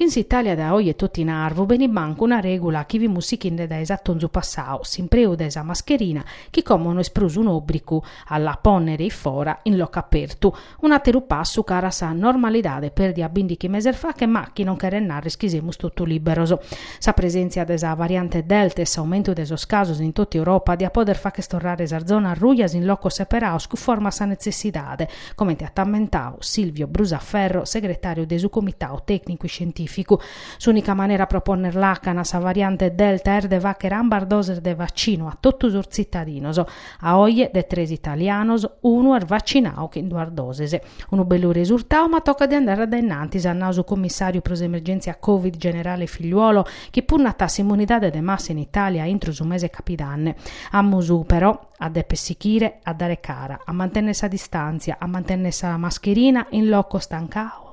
Chin s'Italia dae oje totu in arvu benit mancu una regula chi fimus sichinde dae s'atonzu passau, s'impreu de sa mascherina chi como no est prus un'obricu a la ponnere in fora in locu apertu, Un'àteru passu cara a sa normalidade pèrdia bindighi meses fache ma chi non cheret narrer chi semus totu lìberos. Sa presèntzia de sa variante Delta e s'aumentu de sos casos in tota Europa diat poder facher torrare sas zonas rujas in locos seperados cunforma a sa netzessidade, comente at ammentadu Silvio Brusaferro, segretàriu de su Comitadu tècnicu iscientìficu. S'ùnica manera pro ponner làcana a sa variante Delta est de fàghere ambas doses de vaccinu a totu sos tzitadinos. A oje de tres italianos, unu est vacinadu chin duas doses. Unu bellu resurtadu ma tocat de andare a dae innantis, at nadu su commissàriu pro s'emergèntzia Covid generale Figliuolo, chi punnat a s'immunidade de massa in Itàlia intro su mese capidanne. Amus, però, a deper sighire a dare cara, a mantènnere sa distàntzia, a mantènnere sa mascherina in locos tancados,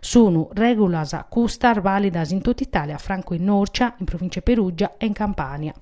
Sunu règulas custas vàlidas in tota Itàlia, francu in Norcia, in Provìncia 'e Perùgia e in Campània.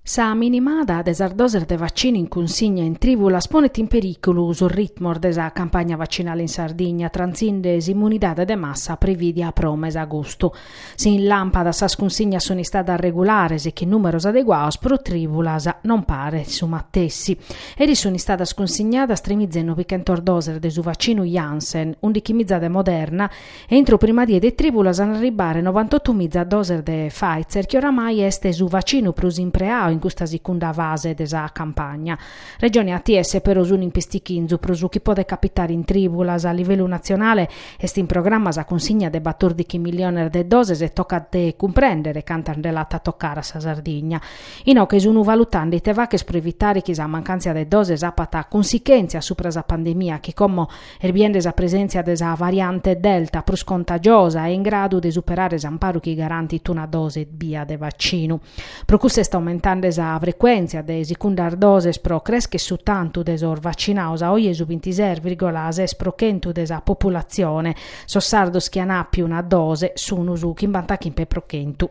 Sa minimada de sas doses de vaccinu in cunsigna in trìbulas ponet in perìculu sos ritmos de sa campagna vaccinale in Sardigna, trantzinde s'immunidade de massa prevìdia pro mese agostu. Si in Làmpadas sas cunsignas sunt istadas regulares e chin nùmeros adeguados, pro Trìbulas non paret su matessi. Eris sunt istadas cunsignadas tremiza e nobichentos doses de su vaccinu Janssen, undichimiza de Moderna e intro prima die de Trìbulas an a arribbare novantotumiza doses de Pfizer chi oramai est su vaccinu prus impreadu in custa sicunda fase de sa campagna. Regione e ATS però sun in pistichinzu pro su chi podet capitare in trìbulas. A livellu natzionale est in programma sa cunsigna de batòrdighi milliones de doses e tocat de cumprèndere cantas nde l'at a tocare a sa Sardigna. Inoghe sun valutande ite faghere pro evitare chi sa mancàntzia de doses apat cunsichèntzias subra sa pandemia chi como est biende sa presèntzia de sa variante Delta prus contagiosa e in gradu de superare s'amparu chi garantit una dose ebbia de vaccinu. Pro custu est aumentande sa frecuèntzia de sigundas doses pro creschere su tantu de sos vacinados, a oje su bintises vìrgula ses pro chentu de sa populatzione. Sos sardos chi an àpiu una dose sun su chimbantachimbe pro chentu.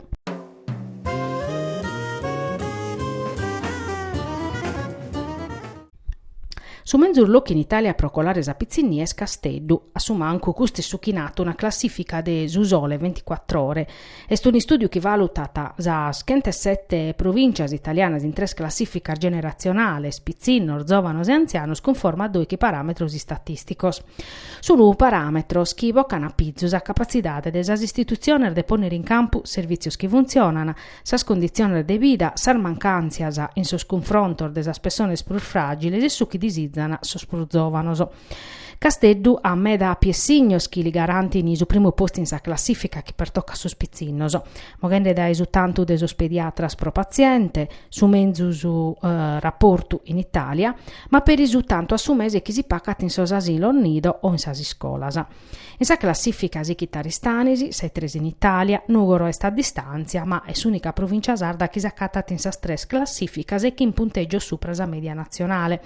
Su menzus locu in Itàlia pro colare sa pitzinnia est Casteddu. A su mancu custu est su chi nat una classìfica de Su Sole Ventiquattr'Ore. Est un'istùdiu chi valutat sas chentesete provìntzias italianas in tres classìficas generatzionales, pitzinnos, zòvanos e antzianos, cunforma a doighi paràmetros istatìsticos. Sunt paràmetros chi bocan a pizu sa capatzidade de sas istitutziones de pònnere in campu servìtzios chi funtzionan, sas conditziones de vida, sas mancàntzias in sos cunfrontos de sas pessones prus fràgiles e su chi disizan sos prus zòvanos. Casteddu at meda piessignos chi li garantin su primu postu in sa classìfica chi pertocat sos pitzinnos, moghende dae su tantu de sos pediatras pro patziente, su menzus raportu in Itàlia, ma peri su tantu a su mese chi si pagat in sos asilos nido o in sas iscolas. In sa classìfica sighit Aristanis, sa 'e tres in Itàlia, Nùgoro est a distàntzia, ma est s'ùnica provìncia sarda chi s'acatat in sas tres classìficas e chin puntègios supra sa mèdia natzionale.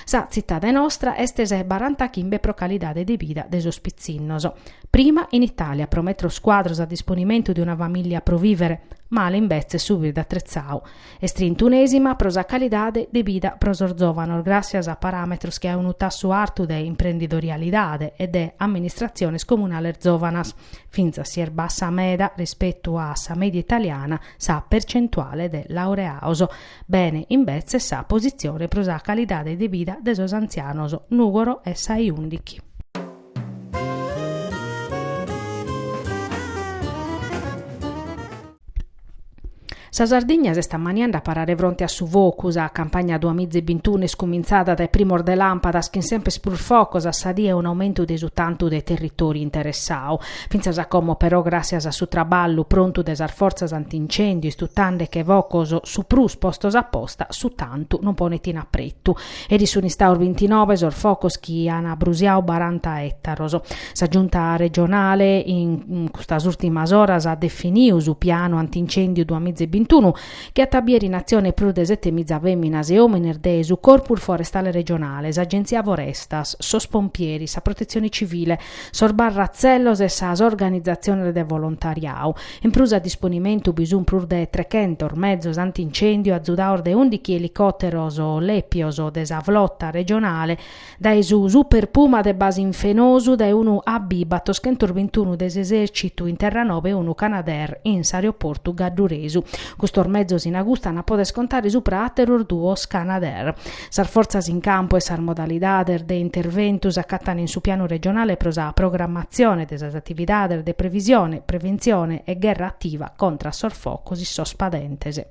Sa tzitade nostra est sa 'e barantachimbe pro calidade de bida de sos pitzinnos. Prima in Itàlia pro metros cuadros a disponimentu de una famìllia pro vìvere, male imbetzes su birde atretzadu. Est trintunèsima pro sa calidade de bida pro sos zòvanos gràssias a paràmetros che a unu tassu artu de imprendidorialidade e de amministratziones comunales zòvanas. Fintzas si est bassa meda rispetu a sa mèdia italiana sa percentuale de laureados, bene imbetzes sa positzione pro sa calidade de bida de sos antzianos, Nùgoro est sa 'e ùndighi. Sa Sardigna s'est ammaniende a parare fronte a su focu. Sa campagna duamiza e bintunu est cumintzada dae primos de làmpadas chin semper prus focos a sa die e un'aumentu de su tantu de territòriu interessadu. Fintzas a como però gràssias a su traballu prontu de sas fortzas antincèndiu istutande che focos su prus postos aposta su tantu non ponet in apretu. Eris sunt istados bintinove sos focos chi an abrusiadu baranta ètaros. Sa Giunta regionale in custas ùrtimas oras at definidu su pianu antincèndiu duas miza e bintunu, chi at a bier in atzione prus de sete miza fèminas e òmines de su Corpus Forestale Regionale, s'Agenzia Forestas, sos pompieris, sa Protetzione Civile, sos barratzellos e sas organizatziones de volontariadu. In prus a disponimentu bi sunt prus de trechentos mezos anti-incèndiu azudados dae ùndighi elicòteros lèpios de sa flota regionale, dae su Super Puma de base in Fenosu, dae unu AB battoschentos bintunu de s'esèrcitu in Terranova e unu Canadair in s'aeroportu gadduresu. Custos mezos in agustu ant a poder contare subra àteros duos Canadair. Sas fortzas in campu e sas modalidades de interventu s'acatant in su pianu regionale pro sa programmatzione de sas atividades de previsione, preventzione e gherra ativa contra a sos focos in sos padentes.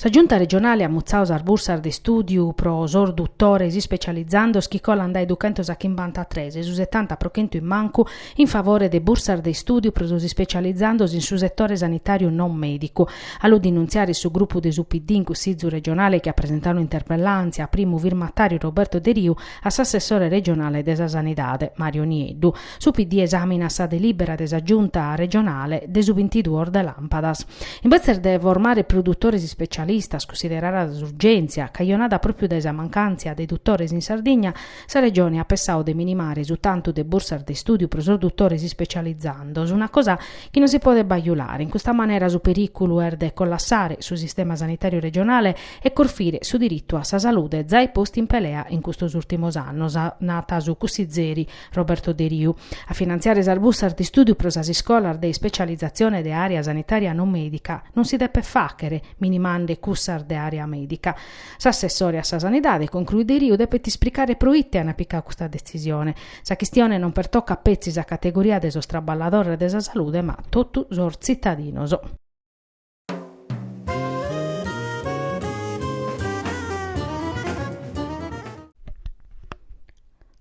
Sa Giunta regionale at mutzadu sas bursas de istùdiu pro sos dutores ispecializandos chi colant dae duchentos a chimbanta-tres e su setanta pro chentu in mancu in favore de bursas de istùdiu pro sos ispecializandos in su setore sanitàriu non mèdicu. A lu denuntziare su grupu de su PD in Cussizu regionale chi at presentadu un'interpellàntzia, primu firmatàriu Roberto Deriu, a s'assessore regionale de sa Sanidade, Mario Nieddu, Su PD esàminat sa delìbera de sa Giunta regionale de su bintiduos de làmpadas. Imbetzes de formare prus dutores ispecialistas considerada s'urgèntzia cajonada pròpiu dae sa mancàntzia de dutores in Sardigna, sa Regione at pessadu de minimare su tantu de bursas de istùdiu pro sos dutores ispecializandos, una cosa chi non si podet bajulare. In custa manera su perìculu est de collassare su sistema sanitàriu regionale e corfire su diritu a sa salude zai postu in pelea in custos ùrtimos annos, nat su cussizeri Roberto Deriu. A finantziare sas bussas de istùdiu pro sas iscolas de ispecializatzione de àrea sanitària non mèdica non si depet fàchere minimande cussas de àrea mèdica. S'assessore a sa Sanidade, concruit Deriu, depet ispricare pro ite ant picadu custa detzisione. Sa chistione non pertocat petzi sa categoria de sos traballadores de sa salude ma totu sos tzitadinos.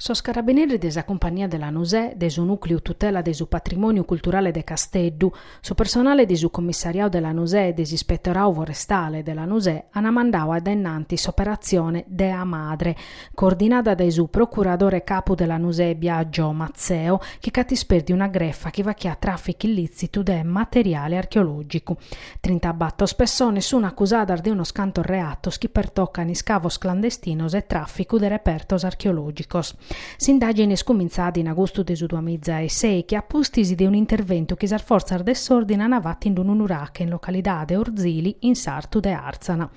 Sos Carabineris de sa Cumpagnia de Lanusè, de su Nùcliu Tutela de su Patrimòniu Culturale de Casteddu, su personale de su Commissariau de Lanusè e de s'Ispetorau Forestale de Lanusè ant mandau a dae innantis s'operatzione Dea Madre, coordinada dae su procuradore capu de Lanusè Biagio Mazzeo, chi ch'at ispèrdiu una grefa chi fachiat traficu illitzitu de materiale archeologicu. Trintabattos pessones sun acusadas de unos cantos reatos chi pertocan iscavos clandestinos e traficu de repertos archeologicos. S'indagine est cumintzada in agustu de su duamiza e sèichi a pustis de un'interventu chi sas fortzas de s'ordine an fatu in unu nurache in localidade Orzili in sartu de Arzana.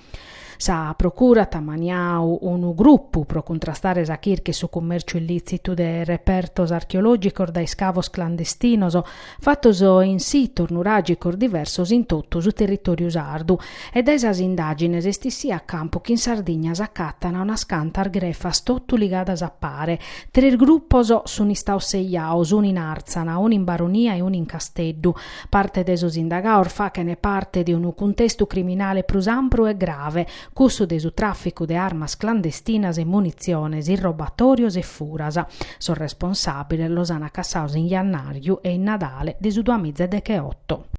Sa Procura at ammaniadu unu grupu pro cuntrastare sa chirca e su cummèrciu illìtzitu de repertos archeològicos dae iscavos clandestinos fatos in sitos nuràgicos diversos in totu su territòriu sardu e dae sas indàgines est issiu a campu chi in Sardigna s'acatant unas cantas grefas totu ligadas a pare. Tres grupos sunt istados sejados, unu in Àrtzana, unu in Baronia e unu in Casteddu, Parte de sos indagados fachent parte de unu cuntestu criminale prus ampru e grave, cussu de su tràficu de armas clandestinas e munitziones, irrobatòrios e furas. Sos responsàbiles los ant acassados in jannàriu e in Nadale de su duamiza e decheoto.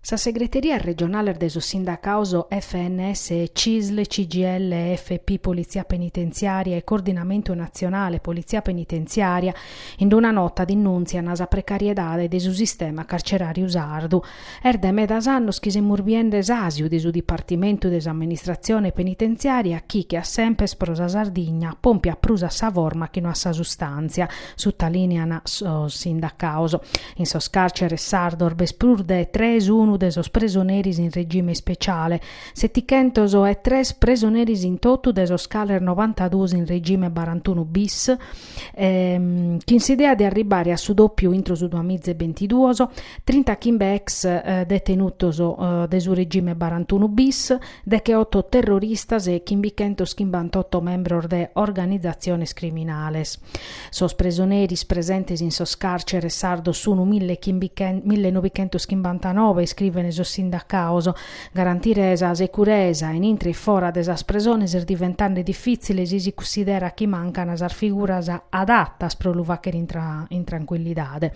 Sas segreterias regionales de sos sindacados FNS CISL, CGIL, FP, Politzia Penitenziària e Coordinamentu Natzionale Politzia Penitenziària, in una nota dinnùntziant sa precariedade de su sistema carceràriu sardu. Est dae medas annos chi semus biende s'àsiu de su dipartimentu de s'amministratzione penitenziària chi, che a sempes pro sa Sardigna, pompiat prus a sa forma chi no a sa sustàntzia, sutalìneant sos sindacados. In sos càrceres sardos b'est prus de tres unu de sos presoneris in regime speciale, setichentos e tres presoneris in totu de sos cales novantaduos in regime barantunu bis, chin s'idea de arribare a su dòpiu intro su duamiza e bintiduos, trinta chimbe ex detenutos de su regime barantunu bis, decheoto terroristas e chimbichentos chimbantotto membros de organizatziones criminales. Sos presoneris presentes in sos càrceres sardos sunu mille novichentos chimbantanove, iscrivene sos sindacaos. Garantire sa securesa in intre e fora de sas presones est diventende difìtzile si si cunsiderat chi mancana sas figuras adatas pro lu fàghere in trancuillidade.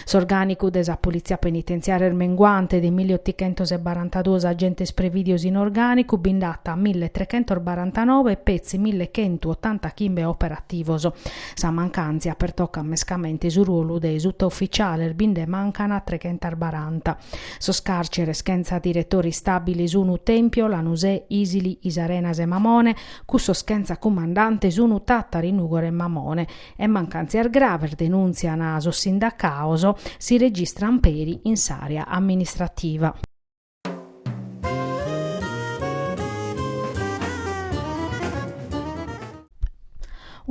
S'orgànicu de sa Politzia Penitentziària est menguante, de milli otichentos e barantaduos agentes prevìdios in orgànicu bi nd'at milli trechentos barantanoe e petzi milli chentotantachimbe operativos. Sa mancàntzia pertocat mescamente su ruolu de sutufitziales, bi nde mancant trechentas baranta. Sos càrceres chentza diretore istàbile sunt Tèmpio, Lanusè, Isili, Is Arenas e Mamone, cussos chentza cumandante sunt Tàtari, Nùgoro e Mamone. e mancàntzias graves, denùntziant sos sindacados, si registrant peri in s'àrea amministrativa.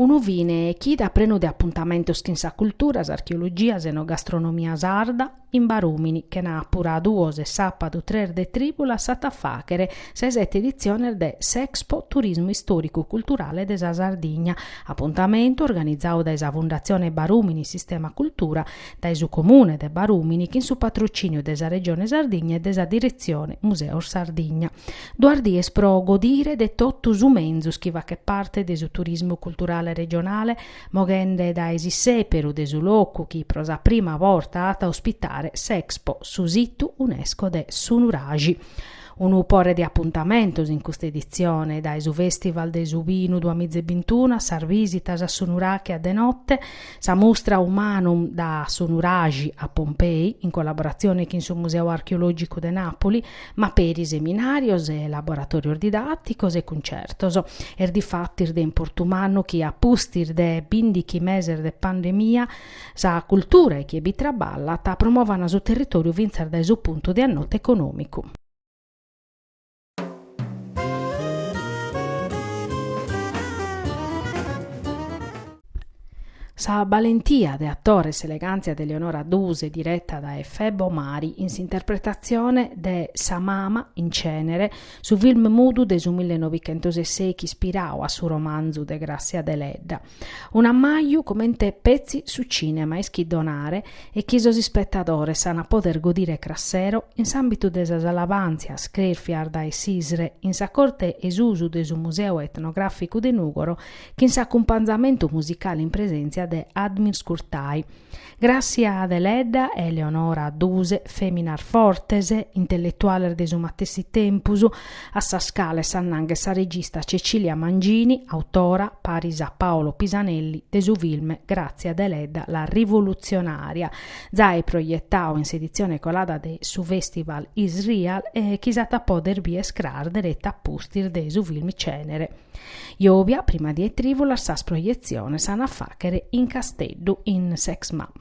Unu fine chida prenu de apuntamentos chin sa cultura, s'archeologia, s'enogastronomia sarda, In Barùmini, chenàpura duos e sàpadu tres de trìbulas s'at a fàghere sa 'e sete editziones de s'Expo Turismu Istòricu Culturale de sa Sardigna, apuntamentu organizadu dae sa Fundatzione Barùmini Sistema Cultura, dae su Comune de Barùmini chin su patrocìniu de sa Regione Sardigna e de sa Diretzione Museos Sardigna. Duas dies pro godire de totu su menzus chi faghet parte de su turismu culturale regionale, moghende dae s'issèperu de su locu chi pro sa prima borta at a ospitare s'Expo Su Situ Unesco de su Nuraxi. Unu pore de apuntamentos in custa editzione, dae su Fèstival de su Binu duas miza e bintunu, sas vìsitas a su Nuraxi a de note, sa mustra Humanum da su Nuraxi a Pompei, in collaboratzione chin su Museu Archeològicu de Nàpuli, ma peri seminàrios e laboratòrios didàticos e cuntzertos. Est difatis de importu mannu chi a pustis de bindighi meses de pandemia sa cultura e chie bi traballat promovant su territòriu fintzas dae su puntu de annotu econòmicu. Sa balentia de atore e s'elegàntzia de Eleonora Duse direta dae Febo Mari in s'interpretatzione de sa mama in Cenere, su film mudu de su millenovichentos e sèichi ispirau a su romanzu de Grazia Deledda. Un'ammaju comente petzi su cìnema ischit donare e chi sos ispetadores ant a poder godire cras sero in s'àmbitu de sas alabàntzias crèfias dae s'ISRE in sa corte 'e susu de su Museu Etnogràficu de Nùgoro chin s'acumpanzamentu musicale in presèntzia de Admir Shkurtaj. Grazia Deledda e Eleonora Duse, fèminas fortes, intelletuales de su matessi tempus, a sas cales s'annanghet sa regista Cecilia Mangini, autora, paris a Paolo Pisanelli, de su film Grazia Deledda la rivoluzionaria, zai proietadu in s'editzione colada de su fèstival IsReal e chi s'at a pòdere bìere cras dereta a pustis de su film Cenere. Jovia prima die 'e trìvulas sas projetziones an a fàghere in Casteddu in s'EXMA.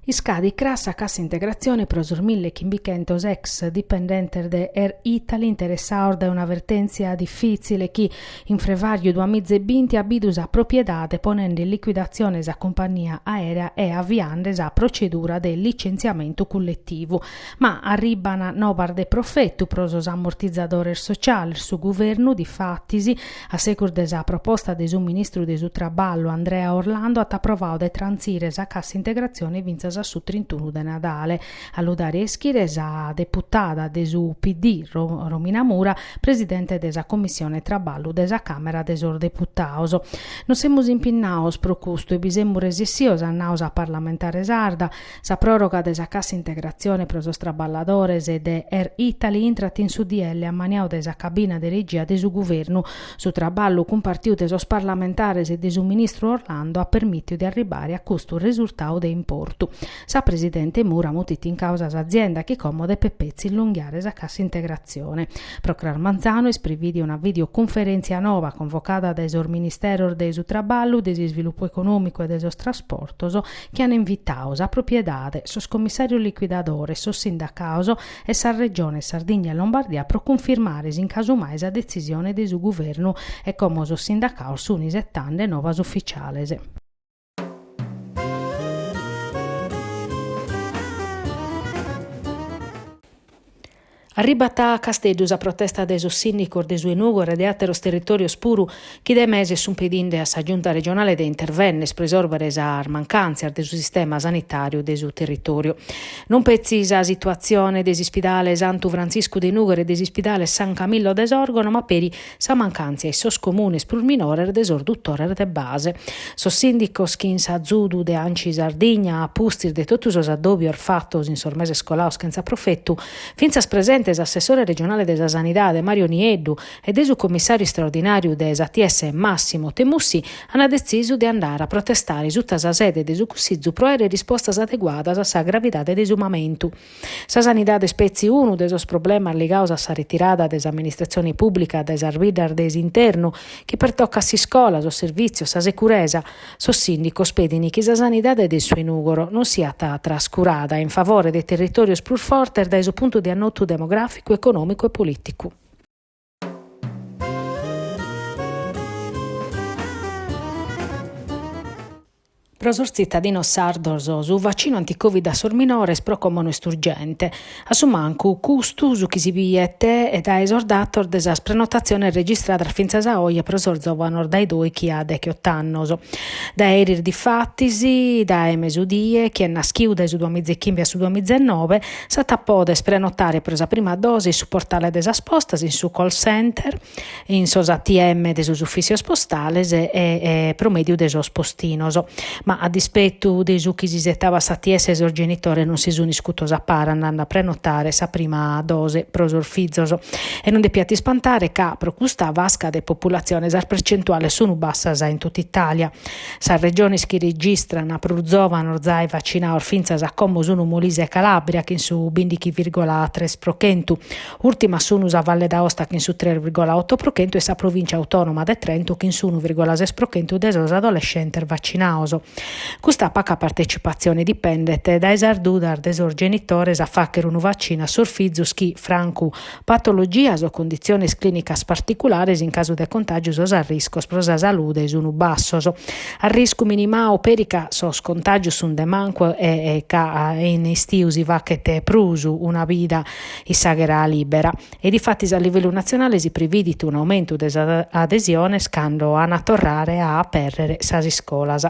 Iscadit cras sa cassa integratzione pro sos mille chimbichentos ex dipendentes de Air Italy interessados dae una vertèntzia difìtzile chi, In frevàriu duamiza e binti at bidu sa propiedade ponende in liquidatzione sa cumpania aèrea e aviande sa procedura de licentziamentu culletivu. Ma arribban nobas de profetu pro sos amortizadores sociales, su guvernu, difatis, a segus de sa proposta de su ministru de su Traballu Andrea Orlando at aprovadu de trantzire sa cassa integratzione fintzas a su trintunu de Nadale. A lu dare a ischire sa deputada de su PD Romina Mura, presidente de sa Commissione Traballu de sa Càmera de sos Deputados. Nos semus impinnados pro custu e bi semus resessidos, at nadu sa parlamentare sarda. Sa pròroga de sa cassa integratzione pro sos traballadores de Air Italy intrat in su DL ammaniadu dae sa cabina de regia de su Guvernu. Su traballu cumpartiu de sos parlamentares e de su ministru Orlando at permìtiu de arribare a custu resurtadu de importu. Sa presidente Mura mutit in causa s'azienda chi como depet petzi illonghiare sa cassa integrazione. Pro cras manzanu est privìdia una videocunferèntzia noba convocada dae sos ministeros de su Traballu, de s'Isvilupu Econòmicu e de sos Trasportos chi an invitadu sa propiedade, sos commissàrios liquidadores, sos sindacados e sas Regiones Sardigna e Lombardia pro cunfirmare si in casu mai sa detzisione de su Guvernu e como sos sindacados sun isetande novas ufficiales. Arribat a Casteddu sa protesta de sos sìndicos de su 'e Nùgoro e de àteros territòrios puru chi dae meses sunt pedinde a sa Giunta regionale de intervenner pro isòrbere sas mancàntzias de su sistema sanitàriu de su territòriu. Non petzi sa situatzione de s'Ispidale Santu Frantziscu de Nùghere e de s'Ispidale San Camillo de Sòrgono ma peri sa mancàntzia in sos comunes prus minores de sos dutores de base. Sos sìndicos chin s'azudu de Anci Sardigna, a pustis de totu sos addòbios fatos in sos meses colados chentza profetu, fintzas presente s'assessore regionale de sa Sanidade Mario Nieddu e de su commissàriu istraordinàriu de s'ATS Massimo Temussi, ant detzisu de andare a protestare suta sa sede de su Cussizu pro aere rispostas adeguadas a sa gravidade de su mamentu. Sa sanidade est petzi unu de sos problemas ligados a sa retirada de s'amministratzione pùblica dae sas biddas de s'internu, chi pertocat s'iscola, sos servìtzios, sa securesa. Sos sìndicos pedint chi sa sanidade de su 'e Nùgoro non siat trascurada in favore de territòrios prus fortes dae su puntu de annotu demogràficu, econòmicu e polìticu. Pro sos tzitadinos sardos su vaccinu anticovid a sos minores pro como no est urgente, a su mancu custu su chi si biet dae sos datos de sas prenotatziones registradas fintzas a oje pro sos zovanos dae dòighi a degheot'annos. Dae eris difatis, dae mesudie, chie est naschiu dae su duamiza e chimbe a su duamiza e nobe, S'at a poder prenotare pro sa prima dose in su portale de sas postas, in su call center, in sos ATM de sos ufìtzios postales e pro mèdiu de sos postinos. Ma a dispetu de su chi s'isetabat s'ATS sos genitores non si sunt iscutos a pare andende a prenotare sa prima dose pro sos fizos. E non depiat ispantare ca pro custa fasca de populatzione sas percentuales sunt bassas in tot'Itàlia. Sas regiones chi registran prus zòvanos zai vacinados fintzas a como sun Molise e Calàbria chin su bindighi virgola tres pro chentu. Ùrtimas sun sa Valle d'Aosta chin su tres virgola oto pro chentu e sa Provìncia Autònoma de Trento chin s'unu virgola ses pro chentu de sos adolescentes vacinados. Custa paca partetzipatzione dipendet dae sas dudas de sos genitores a fàghere unu vaccinu a sos fizos chi, francu Patologias o conditziones clìnicas particulares in casu de contàgiu sos arriscos pro sa salude sun bassos. Arriscu minimadu peri ca sos contàgios sun de mancu e ca in istiu si faghet prus una vida in s'àghera lìbera. E difatis a livellu natzionale si previdit un'aumentu de sas adesiones cando an a torrare a apèrrere sas iscolas.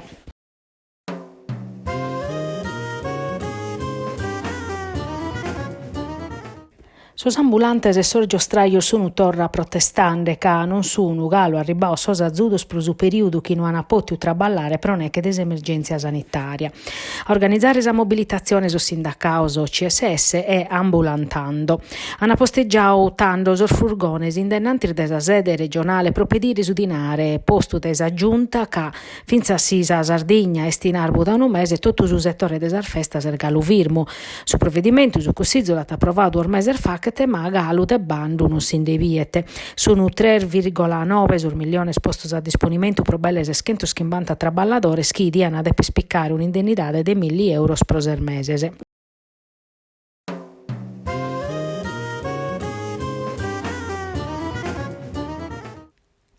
Sos ambulantes e sos giostrajos sun torra protestende ca non sun galu arribbados sos azudos pro su perìodu chi no an pòtidu traballare pro neche de s'emergèntzia sanitària. A organizare sa mobilitatzione sos sindacados CSS e Ambulantando. An postegiadu tando sos furgones in denantis de sa sede regionale pro pedire su dinare postu dae sa Giunta ca, Fintzas si sa Sardigna est in arbu dae unu mese, totu su setore de sas festas est galu firmu. Su provedimentu su Cussizu l'at aprovadu duos meses faghet ma galu de bandu non si nde biet. Sunt tres vìrgola nobe sos milliones postos a disponimentu pro belle seschentos chimbanta traballadores chi dian deper picare un'indennidade de milli euros pro ses meses.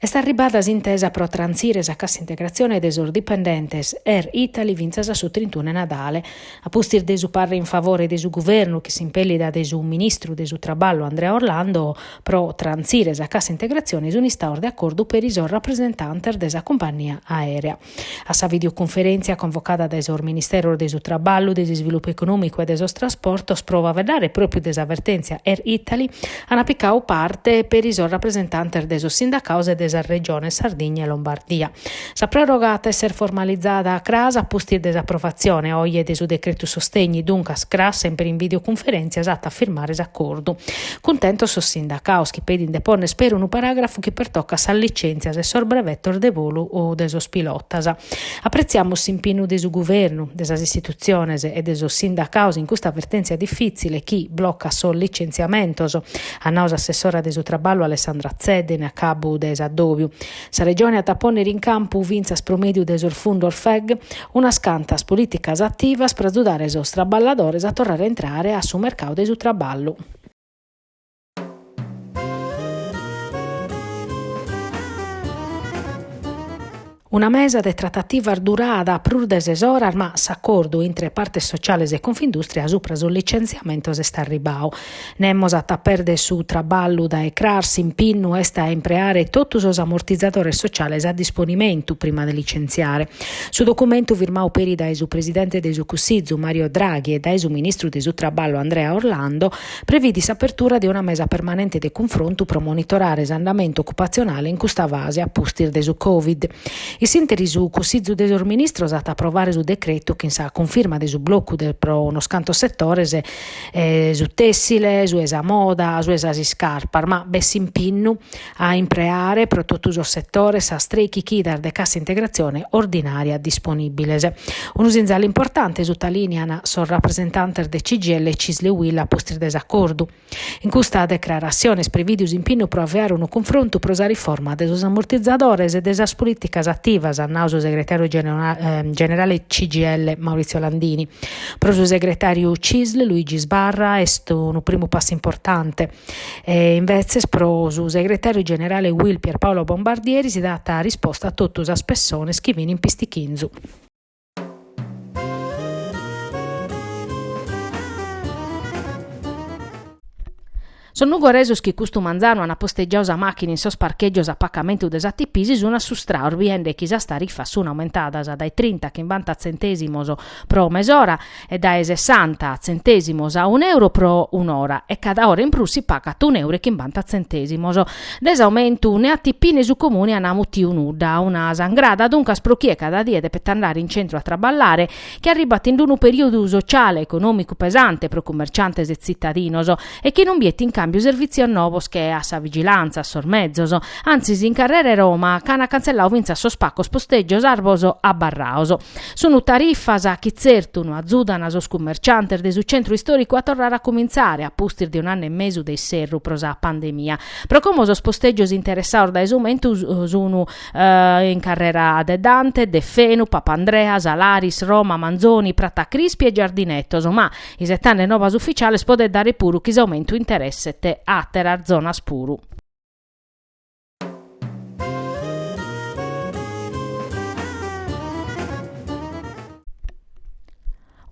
Est arribada s'intesa pro trantzire sa cassa integrazione de sos dipendentes Air Italy fintzas a su trintunu 'e Nadale. A pustis de su parre in favore de su Guvernu chin s'impèllida de su ministru de su Traballu Andrea Orlando pro trantzire sa cassa integrazione sunt istados de acordu peri sos rapresentantes de sa cumpagnia aèrea. A sa videoconferèntzia convocada dae sos Ministeros de su Traballu, de s'Isvilupu Econòmicu e de sos Trasportos pro faeddare pròpiu de sa vertèntzia Air Italy ant picadu parte peri sos rapresentantes de sos sindacados e de sas Regiones Sardigna e Lombardia. Sa pròroga at a èssere formalizada cras a pustis de s'aprovatzione oje de su decretu sostegni, duncas cras semper in videoconferèntzia s'at a firmare s'acordu. Cuntentos sos sindacaos chi pedin de ponner peri unu paragrafu chi pertocat sas licentzias e sos brevetos de volu de sos pilotas. Apretziamus s'impinnu de su Guvernu, de sas istitutziones e de sos sindacaos in custa vertentzia difitzile chi blocat sos licentziamentos, at nadu s'assessora de su Traballu Alessandra Zedda in acabu de s'addòbiu. Sa Regione at a pònnere in campu, fintzas pro mèdiu de sos fundos FEG, unas cantas polìticas ativas pro agiudare sos traballadores a torrare a intrare a su mercadu de su traballu. Una mesa de tratativas durada prus de ses oras ma s'acordu intre partes sociales e Confindustria subra sos licenziamentos est arribadu. Nemos at a pèrdere su traballu dae cras, s'impinnu est a impreare totu sos amortizadores sociales a disponimentu prima de licentziare. Su documentu firmadu peri dae su presidente de su Cussizu, Mario Draghi, e dae su ministru de su Traballu, Andrea Orlando, previdit s'apertura de una mesa permanente de cunfrontu pro monitorare s'andamentu ocupatzionale in custa fase a pustis de su Covid. Issinteri su Cussizu de sos Ministros at a aprovare su decretu chin sa cunfirma de su blocu de pro unos cantos setores, su tessile, su 'e sa moda, su 'e sas iscarpas, ma b'est s'impinnu a impreare pro totu sos setores sas trei chichidas de cassa integrazione ordinària disponìbiles. Unu sinzale importante, sutalìnean sos rapresentantes de CGIL, Cisl e Uil a pustis de s'acordu. In custa decraratzione est previdu s'impinnu pro avviare unu cunfrontu pro sa riforma de sos ammortizadores e de sas polìticas ativas, at nadu su segretàriu generale CGIL Maurizio Landini. Pro su segretàriu CISL Luigi Sbarra est unu primu passu importante e imbetzes pro su segretàriu generale UIL Pierpaolo Bombardieri si dat risposta a totu sas pessones chi fin in pistichinzu. Sos nugoresos chi custu manzanu ant postegiadu sa màchina in sos parchègios a pacamentu de s'ATP si sunt assustrados biende chi sas tarifas sunt aumentadas dae trinta a chimbanta tzentèsimos pro mesora e dae sessanta tzentèsimos a un'euro pro un'ora e cada ora in prus si pagat un'euro e chimbanta tzentèsimos. De s'aumentu ne ATP ne su Comuni an mutiu nudda, una sangrada duncas pro chie cada die depet andare in centru a traballare, chi arribat in unu perìodu sociale e econòmicu pesante pro cummerciantes e tzitadinos e chi non biet in càmbiu servìtzios novos che a sa vigilantza, a sos mezos, antzis in carrera 'e Roma ch'an cantzelladu fintzas sos pacos postègios arbos abarrados. Sunt tarifas chi tzertu no azudan sos cummerciantes de su centru istòricu a torrare a cumintzare a pustis de un'annu e mesu de isserru pro sa pandemia, pro como sos postègios interessados dae s'aumentu sun in carrera de Dante, de Fenu, Papandrea, Salaris, Roma, Manzoni, Prata Crispi e Giardinetos, ma isetande novas uficiales podet dare puru chi s'aumentu interesset àteras zonas puru.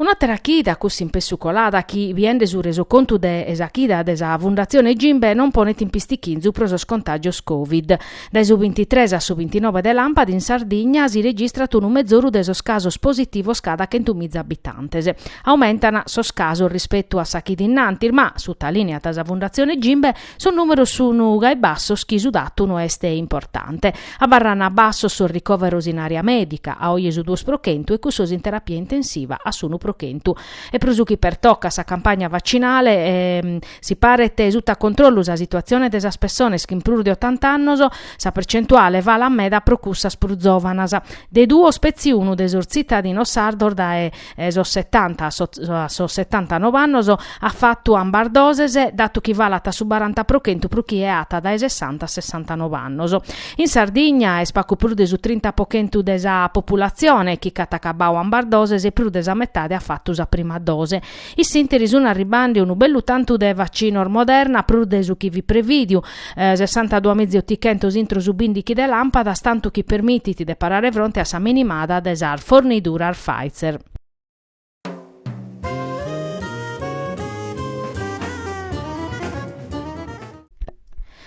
Un'àtera chida accussì in pessu colada chi, biende su resocontu de sa chida de sa Fundatzione Gimbe, non ponet in pistichinzu pro sos contàgios Covid. Dae su bintitres a su bintinobe de làmpadi in Sardigna si registrat unu mezoru de sos casos positivos cada chentu miza abitantes. Aumentan sos casos rispetu a sa chida innantis ma, sutalìneat sa Fundatzione Gimbe, Sos nùmeros sun gai bassos chi su datu no est importante. Abarran bassos sos ricoveros in àrea mèdica, a oje su duos pro chentu e cussos in terapia intensiva a s'unu pro chentu. E pro su chi pertocat sa campagna vacinale, si paret sutta a controllu sa situatzione de sas pessones chin prus de otanta annos, sa percentuale falat meda pro cussas prus zòvanas. De duos petzi unu de sos tzitadinos sardos dae e sos setanta a sos, a sos setantanove annos at fatu ambas doses, datu chi falat a su baranta pro chentu pro chie at dae sessanta a sessantanove annos. In Sardigna est pagu prus de su trinta pro chentu de sa populatzione chi ch'at acabadu ambas doses e prus de sa metade at fatu sa prima dose. Issinteri sun arribbande unu bellu tantu de vacinos Moderna, prus de su chi fit prevìdiu, sessantadua miza e otichentos intro su bindighi de làmpadas, tantu chi permitit de parare fronte a sa minimada de sas forniduras Pfizer.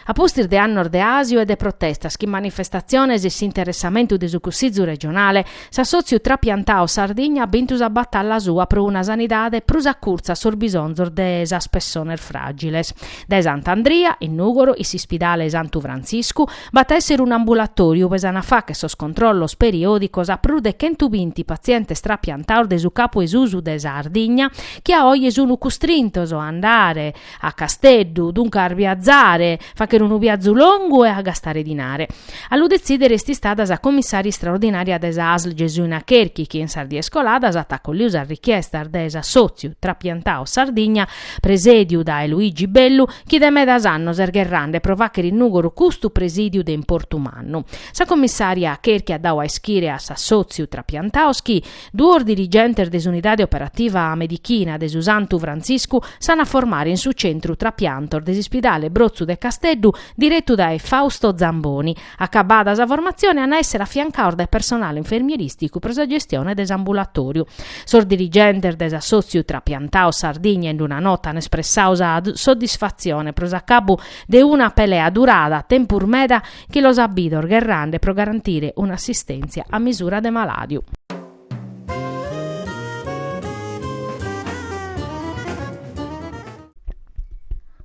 A pustis de annos de àsiu e de protestas, chin manifestatziones e s'interessamentu de su Cussizu regionale, S'assòtziu Trapiantaos Sardigna at bintu sa batalla sua pro una sanidade prus acurtza a sos bisonzos de sas pessones fràgiles. Dae Sant'Andria, in Nùgoro, in s'ispidale 'e Santu Frantziscu, b'at a èssere un'ambulatòriu ue s'an a fagher sos controllos periòdicos a prus de chentu binti patzientes trapiantaos de su capu 'e susu de Sardigna chi a oje sun custrintos a andare A Casteddu, duncas biazare, faghere unu biazu longu e a gastare dinare. A lu detzìdere est istada sa commissaria istraordinària de sa Asl Gesuina Cherchi chi in sas dies coladas at acolliu sas richiestas de s'assòtziu Trapiantaos Sardigna presèdiu dae Luigi Bellu chi de medas annos est gherrande pro faghere in Nùgoro custu presìdiu de importu mannu. Sa commissaria Cherchi at dadu a ischire a s'assòtziu Trapiantaos chi Duos dirigentes de s'Unidade Operativa Medichina de su Santu Frantziscu s'an a formare in su centru trapiantos de s'ispidale Brotzu de Casteddu diretu dae Fausto Zamboni. Acabada sa formatzione an a èssere afiancaos dae personale infermierìsticu pro sa gestione de s'ambulatòriu. Sos dirigentes de s'assòtziu Trapiantaos Sardigna in una nota an espressau sa soddisfatzione pro s'acabu de una pelea durada tempus meda chi los at bidos gherrande pro garantire un'assistèntzia a misura de malàdiu.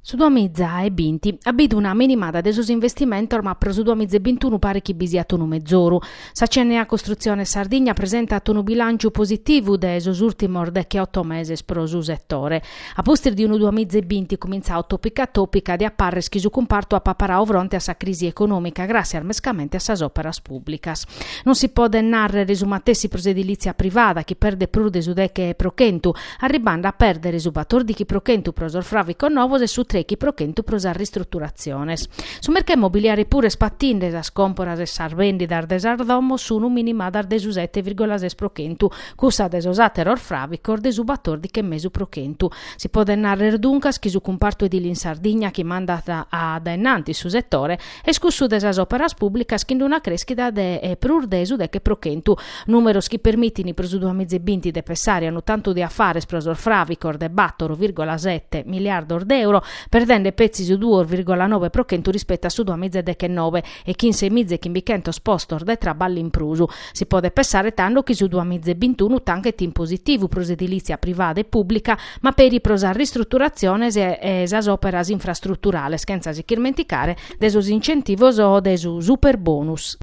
Su duamiza e binti at bidu una minimada de sos investimentos ma pro su duamiza e bintunu paret chi bi siat unu mezoru. Sa CNA Costruzione Sardigna presentat unu bilànciu positivu de sos ùrtimos deche-oto meses pro su setore. A pustis de unu duamiza e binti cumintzau tòpica tòpica diat pàrrer chi su cumpartu apa parau fronte a sa crisi econòmica gràssias mescamente a sas òperas pùblicas. Non si podet nàrrere su matessi pro s'edilìtzia privada chi perdet prus de su deche pro chentu, arribande a pèrdere su batordichi pro chentu pro sos fràvicos novos e su trechi pro chentu pro sas ristruturatziones. Su mercau immobiliare puru est patinde, sas còmporas e sas bèndidas de sas domos sunu minimadas de su sete virgola ses pro chentu, cussa de sos àteros fràvicos de su batòrdighi e mesu pro chentu. Si podet nàrrere duncas chi su cumpartu edile in Sardigna chi mandat a dae in antis su setore est cussu de sas òperas pùblicas chin una crèschida de prus de su deghe pro chentu, nùmeros chi permitint pro su duas miza e binti de pessare a unu tantu de afares pro sos fràvicos de bàtoro vìrgola sete miliardos de euro, perdende petzi su duos vìrgola nobe pro chentu rispettu a su duas miza e deghenove e chin sei miza e chimbichentos postos de traballu in prus. Si podet pensare tando chi su duamiza e bintunu tanchet in positivu pro s'edilìtzia privada e pùblica, ma peri pro sas ristruturatziones e sas òperas infrastruturales, chentza si ch'irmenticare de sos incentivos o de su superbonus.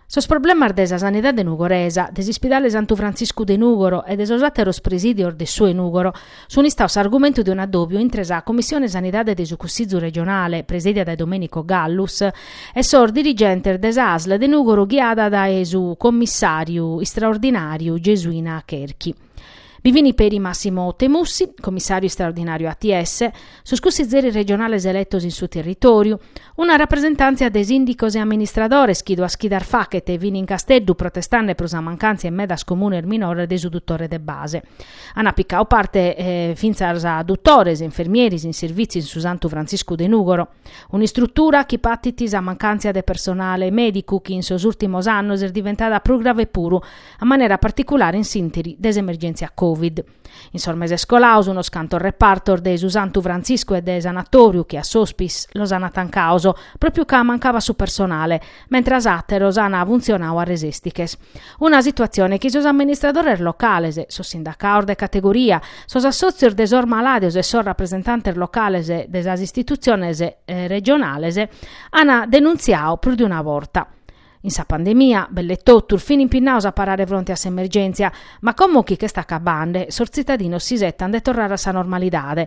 Sos problemas de sa sanidade nugoresa, de s'ispidale Santu Frantziscu de Nùgoro e de sos àteros presìdios de su 'e Nùgoro sunt istados s'argumentu de un'addòbiu intre sa Commissione Sanidade de su Cussizu Regionale, presèdia dae Domenico Gallus, e sos dirigentes de sa Asl de Nùgoro ghiada dae su commissàriu istraordinàriu Gesuina Cherchi. Bi fini peri Massimo Temussi, comissàriu istraordinàriu ATS, sos cussizeris regionales eletos in su territòriu, una rapresentàntzia de sìndicos e amministradores chi duas chidas faghet fini in Casteddu protestande pro sa mancàntzia in medas comunes minores de su dutore de base. Ant picadu parte fintzas dutores e infermieris in servìtziu in su Santu Frantziscu de Nùgoro. Un'istrutura chi patit sa mancàntzia de personale mèdicu chi in sos ùrtimos annos est diventada prus grave puru, a manera particulare in s'ìnteri de s'emergèntzia Covid. In sos meses colados unos cantos repartos de su Santu Frantziscu e de Sanatòriu Zonchello hospice los ant tancados, pròpiu ca mancabat su personale, mentras àteros an funtzionadu a resèstiches. Una situatzione chi sos amministradores locales, sos sindacados de categoria, sos assòtzios de sos malàdios e sos rapresentantes locales de sas istitutziones regionales an denuntziadu prus de una borta. In sa pandemia, belle totus, fin impinnados a parare fronte a s'emergèntzia, ma como chi ch'est acabande, sos tzitadinos s'isetan de torrare a sa normalidade,